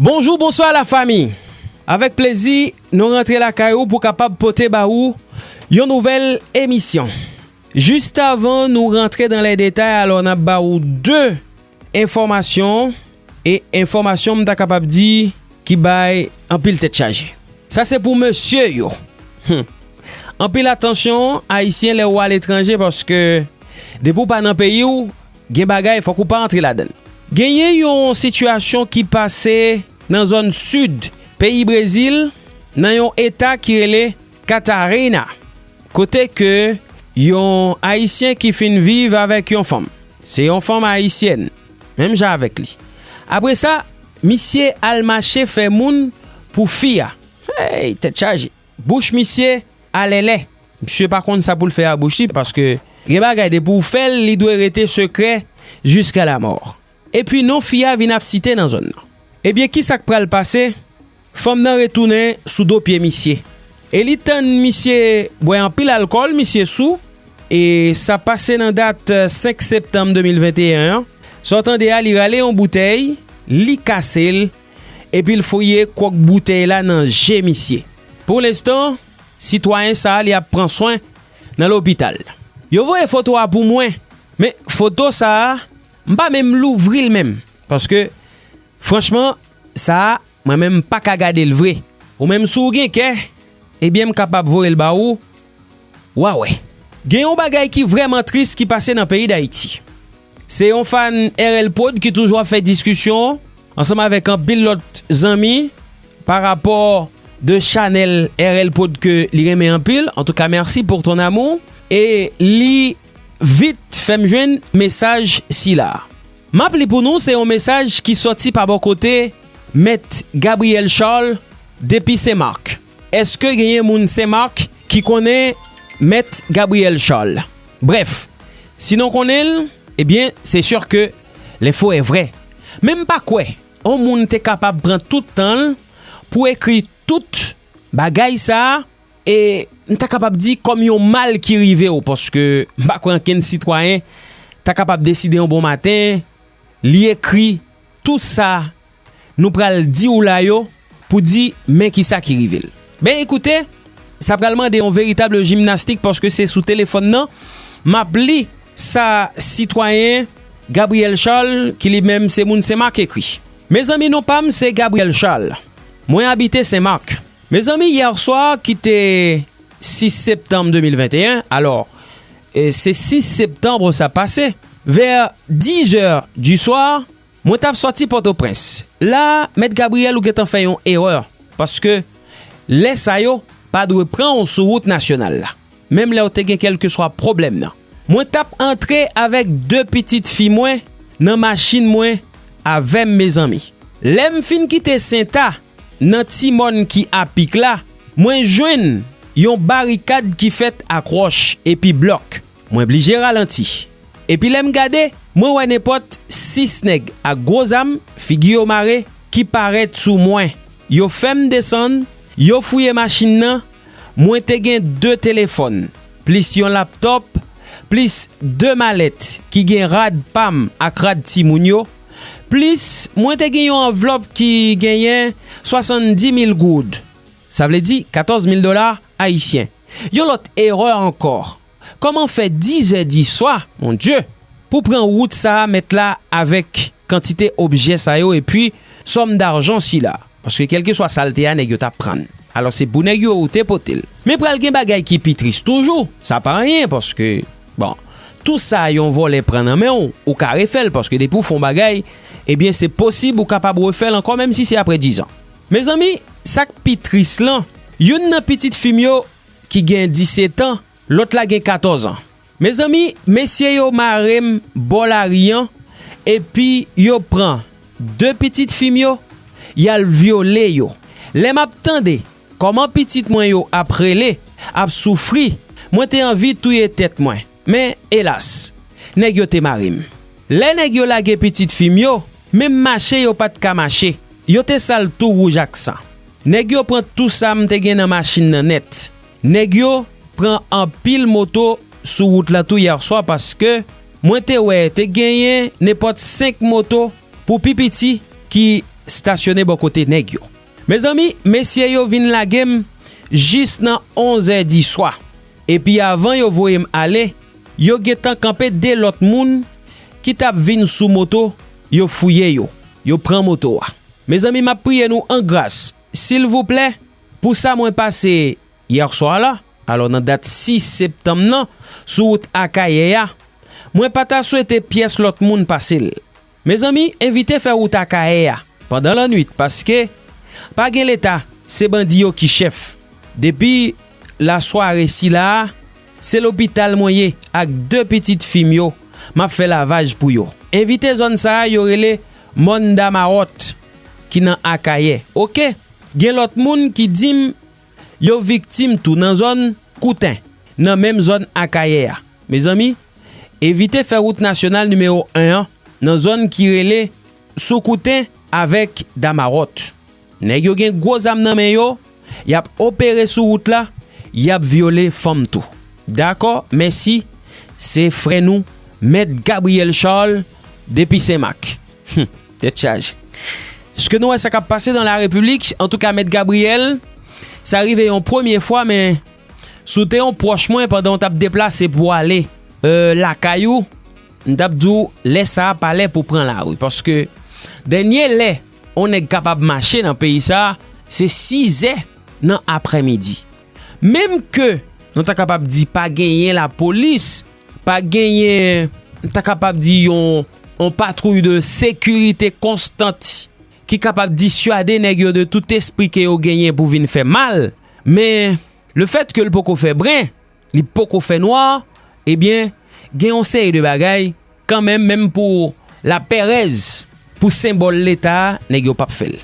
Bonjou bonswa la fami avèk plezi nou rantre lakay ou pou kapab pote ba ou yon nouvel emisyon jis avan nou rantre dan lè detay alò nan ba ou 2. Enfòmasyon, e enfòmasyon m ta kapab di ki bay anpil tèt chaje. Sa se pou mesye yo! Hum! Anpil atansyon Ayisyen lè ou aletranje paske depi ou pa nan peyi ou, gen bagay fòk ou pa antre ladan l. Genyen yon sitiyasyon ki pase nan zòn sid peyi Brezil nan yon eta ki rele. Catarina, kote ke yon Ayisyen ki fin viv avèk yon fanm. Se yon fanm Ayisyèn, menm jan avèk li. Apre sa, misye al mache fè moun pou fi a. Hey! Tèt chaje! Bouch misye alèlè. Misye pa konn sa pou l fè a bouch li, paske gen bagay depi w fè l, li dwe rete sekrè jiska lamò. Epi non fi a vin ap site nan zòn nan. Ebyen kisa k pral pase, fanm nan retounen sou do pye misye e li tann misye bwè anpil alkòl, misye sou e sa pase nan dat 5 septanm 2021 an. Sa w tande a li rale yon boutèy, li kase l epi l fouye kwòk boutèy la nan je misye. Pou lenstan, sitwayen sa li ap pran swen nan lopital. Yo voye foto a pou mwen, men foto sa M pa menm louvri l menm. Paske franchman sa a mwen menm m pa ka gade l vre. Ou menm si w gen kè, ebyen m kapab voye l ba ou, w a wè. Gen yon bagay ki vrèman tris ki pase nan peyi Dayiti. Se yon fan RL prod ki toujou ap fè diskisyon ansanm avèk anpil lòt zanmi pa rapò de chanèl RL prod ke li renmen anpil. Antouka mèsi pour ton amour. E li Vit fè m jwenn mesaj sila a. M ap li pou nou se yon mesaj ki sòti pa bò kote Mèt Gabriel Charles depi Sen Marc. Eske genyen moun Sen Marc ki konnen Mèt Gabriel Charles? Brèf, si non konnen l, ebyen se sure ke le fo e vre. Men m pa kwè yon moun te kapab pran tout tan l pou ekri tout bagay sa a. E m ta kapab di kòm yon mal ki rive w paske m pa kwè ankenn sitwayen ta kapab deside yon bon maten li ekri tou sa nou pral di w la yo pou di men ki sa ki rive l. Ben ekoute sa pral mande yon veritab jimnastik paske se sou telefòn nan m ap li sa sitwayen Gabriel Charles ki li menm se moun Senmak ekri. Mezanmi non pa m se Gabriel Charles mwen abite Senmak. Mezanmi yèswa ki te 6 septanm 2021 alò se 6 septanm sa ap pase vè 10 è di swa mwen tap sòti pòtoprens la mèt Gabriel ou gentan fè yon erè paske lè sa yo pa dwe pran ou sou wout nasyonal la menm lèw te gen kèlkeswa pwoblèm nan mwen tap antre avèk 2 pitit fi mwen nan machin mwen avèm mezanmi lèm fin kite senta. Nan ti mòn ki apik la, mwen jwenn yon barikad ki fèt ak wòch epi blòk. Mwen blije ralanti. Epi lè m gade, mwen wè nenpòt sis nèg ak gwo zam, figi yo mare, ki parèt sou mwen. Yo fè m desann, yo fouye machin nan, mwen te gen de telefòn, plis yon laptòp, plis de malèt ki gen rad pa m ak rad timoun yo. plis mwen te gen yon anvlòp ki genyen 70 mil goud, sa vle di 14 mil dola ayisyen. Yon lòt erè ankò. Kòman fè dizè diswa, mon Dye, pou pran wout sa a mèt la avèk kantite objè sa yo epi sòm darjan sila? Paske kèlkeswa sa l te a nèg yo t ap pran l. Alò se pou nèg yo ou te pote l. Men pral gen bagay ki pi tris toujou, sa pa anyen paske. Bon, tou sa yon vòlè pran nan men w, ou ka refè l paske depi w fè yon bagay, ebyen se posib ou kapab refè l ankò menm si se aprè dizan. Mezanmi, sa k pi tris lan, youn nan pitit fi m yo ki gen disetan, lòt la gen katòzan. Mezanmi, mesye yo mare m bò lari an epi yo pran de pitit fi m yo, y al vyole yo. Lè m ap tande Kòman pitit mwen yo ap rele, ap soufri, mwen te anvi touye tèt mwen. Men, elas! Nèg yo te mare m. Lè nèg yo lage pitit fi m yo, menm mache yo pa t ka mache. Yo te sal tou wouj ak san. Nèg yo pran tou sa m te gen nan machin nan nèt. Nèg yo pran anpil moto sou wout la tou yèswa paske mwen te wè te genyen nenpòt senk moto pou pi piti ki stasyone bò kote nèg yo. Mezanmi, mesye yo vin lage m jis nan onzè diswa, epi avan yo voye m ale, yo gentan kanpe de lòt moun ki t ap vin sou moto, yo fouye yo, yo pran moto a. Mezanmi, m ap priye nou an gras, silvouplè, pou sa mwen pase yèswa la, alò nan dat 6 septanm nan, sou wout Akayè a, mwen pa ta swete pyès lòt moun pase l. Mezanmi evite fè wout Akayè a pandan lannwit paske pa gen leta se bandi yo ki chèf. Depi la sware sila a se lopital mwen ye ak 2 pitit fi m yo map fè lavaj pou yo. Evite zòn sa a yo rele Mòn Damawòt ki nan Akayè ok. Gen lòt moun ki di m Yo viktim tou nan zòn Kouten, nan menm zòn Akayè a. Mezanmi, evite fè wout nasyonal nimewo 1 an nan zòn ki rele Sou Kouten avèk Damaròt. Nèg yo gen gwo zam nan men yo, y ap opere sou wout la, y ap vyole fanm tou. Dakò, mèsi, se frè nou Mèt Gabriel Charles depi Senmak. Hum! Tèt chaje. Ske nou wè sa kap pase dan la repiblik? Antouka mèt Gabriel, sa rive yon premye fwa men si w te yon pwòch mwen pandan w tap deplase pou w ale lakay ou, m tap di w lè sa pa lè pou w pran lari. Paske dènye lè yon nèg kapab mache nan peyi sa, se 6 zè nan aprè midi. Menm ke nou ta kapab di pa genyen lapolis Pa genyen, m ta kapab di yon, yon patwouy de sekirite konstant ki kapab disyade nèg yo de tout espri ke yo genyen pou vin fè mal. Men, le fèt ke l poko fè bren, li poko fè nwa, ebyen, gen yon seri de bagay, kan menm, menm pou lapèrèz, pou senbòl Leta, nèg yo pap fè l.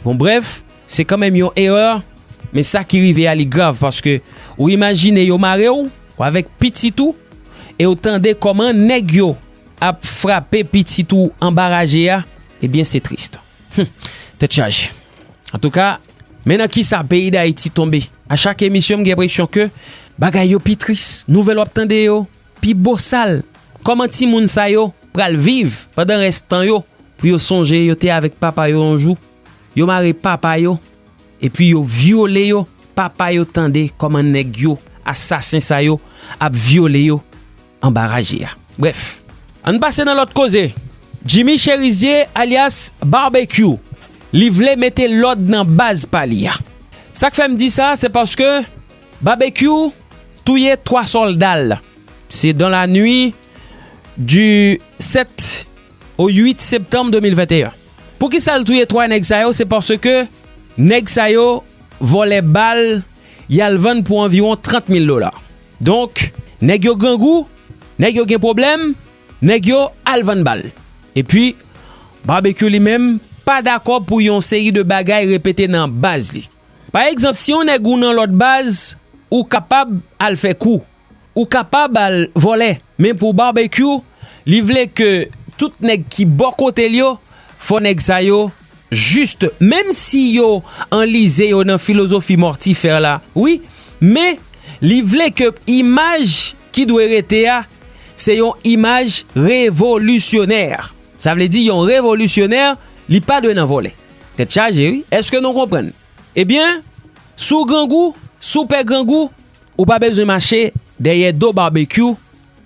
Bon brèf, se kan menm yon erè, men sa ki rive a li grav, paske ou imajine yo mare w, Ou avèk pitit ou e ou tande kòman nèg yo ap frape pitit ou anba raje a, ebyen se trist. Hum! Tèt chaje. Antouka, men nan kisa peyi Dayiti tonbe. A chak emisyon m gen enpresyon ke bagay yo pi tris. Nouvèl w ap tande yo pi bosal. Kòman timoun sa yo pral viv pandan rès tan yo pou yo sonje yo te avèk papa yo yon jou? Yo mare papa yo. Epi yo vyole yo papa yo tande koman neg yo asasen sa yo ap vyole yo anba raje a bref. Ann pase nan lòt koze. Jimmy Cherizier alyas Barbecue li vle mete lòd nan baz pa li a. Sak fè m di sa se paske Barbecue touye 3 sòlda l. Se dans la nuit du 7 au 8 septembre 2021. Poukisal touye 3 nèg sa yo se paske nèg sa yo vòlè bal yal vann pou anviwon 30 mil dola donk nèg yo grangou nèg yo gen pwoblèm nèg yo al vann bal epi Barbecue li menm pa dakò pou yon seri de bagay repete nan baz li pa egzanp si yon nèg ou nan lòt baz ou kapab al fè kou Ou kapab al vòlè men pou Barbecue li vle ke tout nèg ki bò kotel yo fò nèg sa yo juste menm si yo anlize yo nan filozofi mòtifè la wi men li vle ke imaj ki dwe rete a se yon imaj revolisyonè sa vle di yon revolisyonè li pa dwe nan vòlè tèt chaje wi eske nou konprann ebyen si w grangou si w pè grangou Ou pa bezwen mache dèyè do Barbecue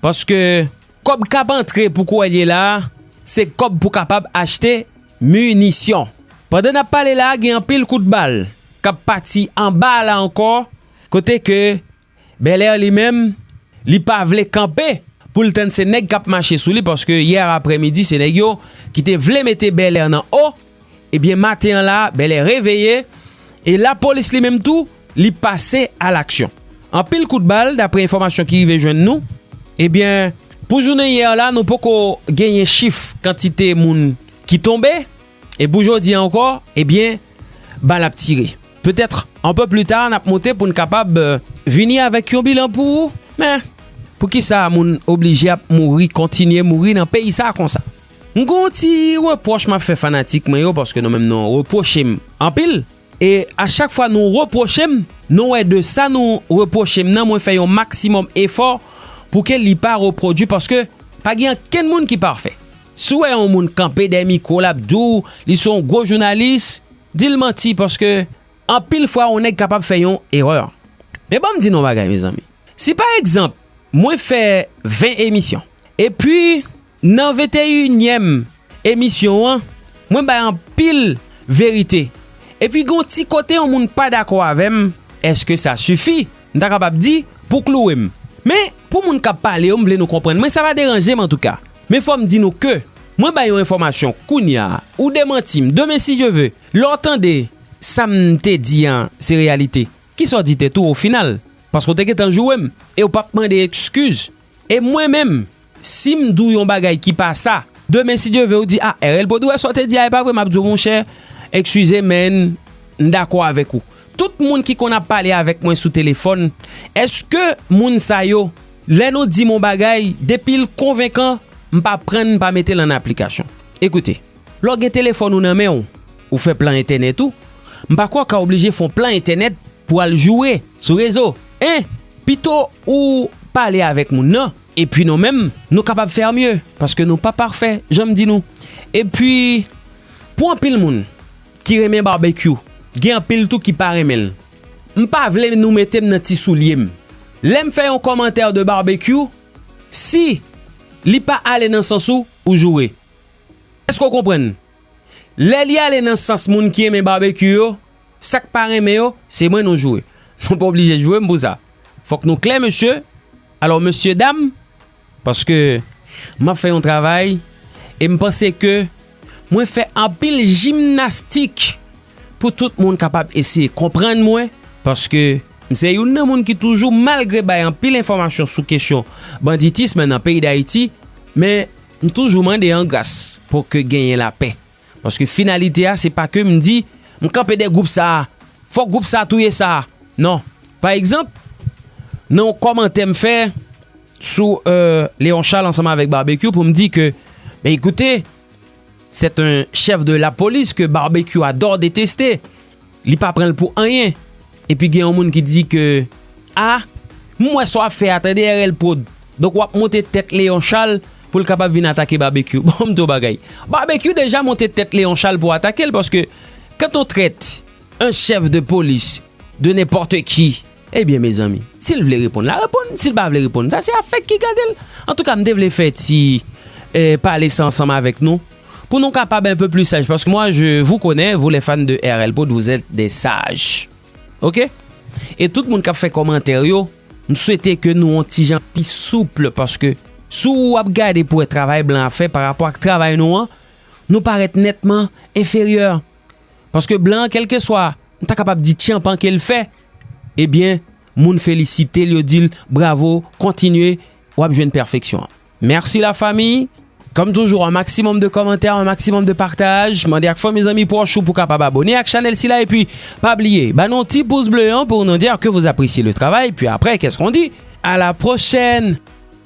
paske kòb k ap antre pou kouwè l ye la a se kòb pou kapab achte minisyon. Pandan n ap pale la a gen anpil kout bal k ap pati anba a la ankò kote ke Belair li menm li pa vle kanpe pou l tann se nèg k ap mache sou li paske yè aprèmidi se nèg yo ki te vle mete Belair nan o Ebyen maten an la, Bèlè reveye e lapolis li menm tou li pase a laksyon. Anpil kout bal daprè enfòmasyon ki rive jwenn nou. Ebyen pou jounen yè la nou poko genyen chif kantite moun ki tonbe e pou jodi an ankò ebyen bal ap tire. Petèt an pe pli ta nap monte pou n kapab vini avèk yon bilan pou ou men poukisa moun oblije ap mouri kontinye mouri nan peyi sa konsa. M gen yon ti repwòch m ap fè fanatik mwen yo paske nou menm nou repwoche m anpil e a chak fwa nou repwoche m nou wè de sa nou repwoche m nan mwen fè yon maksimòm efò pou ke li pa repwodui paske pa gen ankenn moun ki pafè. Si w wè yon moun kanpe dèyè mikwo l ap di w li se yon gwo jounalis, di l manti paske anpil fwa yon nèg kapab fè yon erè. Men ban m di nou yon bagay mezanmi, si pa egzanp mwen fè 20 emisyon epi. Nan venteyinyèm emisyon an, mwen bay anpil verite. Epi gen yon ti kote yon moun pa dakò avè m, èske sa sifi, m ta kapab di, pou klouwe m? Men, pou moun k ap pale yo, m vle nou konprann mwen, sa pa deranje m antouka. Men fò m di nou ke, mwen bay yon enfòmasyon kounya, ou demanti m demen si Dye ve. Lè w tande sa m te di an se reyalite, kisa w di tèt ou ofinal? Paske w te gentan joure m e w pa p mande ekskiz. E mwen menm, si m di w yon bagay ki pa sa, demen si Dye ve ou di, a, RL Pod ou wè sa w te di a e pa vre, m ap di w monchè, ekskize men, m dakò avèk ou. Tout moun ki konn ap pale avèk mwen sou telefòn, èske moun sa yo, lè nou di m yon bagay, depi l konvenkan, m pa pran n pa mete l an aplikasyon? Ekoute. Lè w gen telefòn ou nan men w, ou fè plan entènèt ou, m pa kwè w ka oblije fè yon plan entènèt pou al joure sou rezo. 1, Pito ou pale avèk moun nan, epi nou menm nou kapab faire mieux, paske nou pa pafè jan m di nou. Epi pou anpil moun ki renmen barbecue, gen anpil tou ki pa renmen l. M pa vle nou mete m nan ti soulye m. Lè m fè yon kòmantè de barbecue, si li pa ale nan sans ou, ou joure. Eske w konprann? Lè li ale nan sans moun ki renmen barbecue yo, sa k pa renmen yo, se mwen nou joure. Nou pa oblije joure m pou sa. Fòk nou klè mesye. Alò mesye dam, paske m ap fè yon travay e m panse ke mwen fè anpil jimnastik pou tout moun kapab eseye konprann mwen, paske m se youn nan moun ki toujou malgre bay anpil enfòmasyon sou kesyon banditism nan peyi Dayiti, men, M toujou mande an gras pou ke genyen lapè. Paske finalite a se pa ke m di m kanpe dè gwoup sa a, fòk gwoup sa a touye sa a. Non. Pa egzanp, nan yon kòmantè m fè sou Leon Charles ansanm avèk Barbecue pou m di ke men ekoute, sèt en chèf de lapolis ke Barbecue adò deteste. Li pa pranl pou anyen. Epi gen yon moun ki di ke ah m wè sa wap fè a tande RL prod donk wap monte tèt Leon Charles pou l kapab vin atake Babekyou bon m di w bagay Babekyou deja monte tèt Leon Charles pou atake l paske kant on trèt un chef de police de nenpòte ki. Ebyen mezanmi sil vle reponn la reponn sil pa vle reponn sa se afèk ki gadel antouka m te vle fè ti pale sa ansanm avèk nou pou nou kapab enpe pli saj paske mwa je vou konnen vou lè fan de RL prod vou zèt de saj ok e tout moun kap fè kòmantè yo m swete ke nou yon ti jan pi souple paske sou ou ap gade pou wè travay blan ap fè parapò ak travay nou an nou parèt nètman enferyè. Paske blan an kelkeswa m ta kapab di tchanpan ke l fè, ebyen moun felisite l yo di l bravo kontinye w ap jwenn pèfeksyon. Mèsi la fami! Kòm toujou an maksimòm de kòmantè, an maksimòm de pataj, mande ak fanmi zanmi pwòch ou pou kapab abone ak chanèl sila epi pa bliye ba nou ti pouz ble an pou nou di ke vous appreciez le travail, pi aprè kès kon di? A la pwochèn!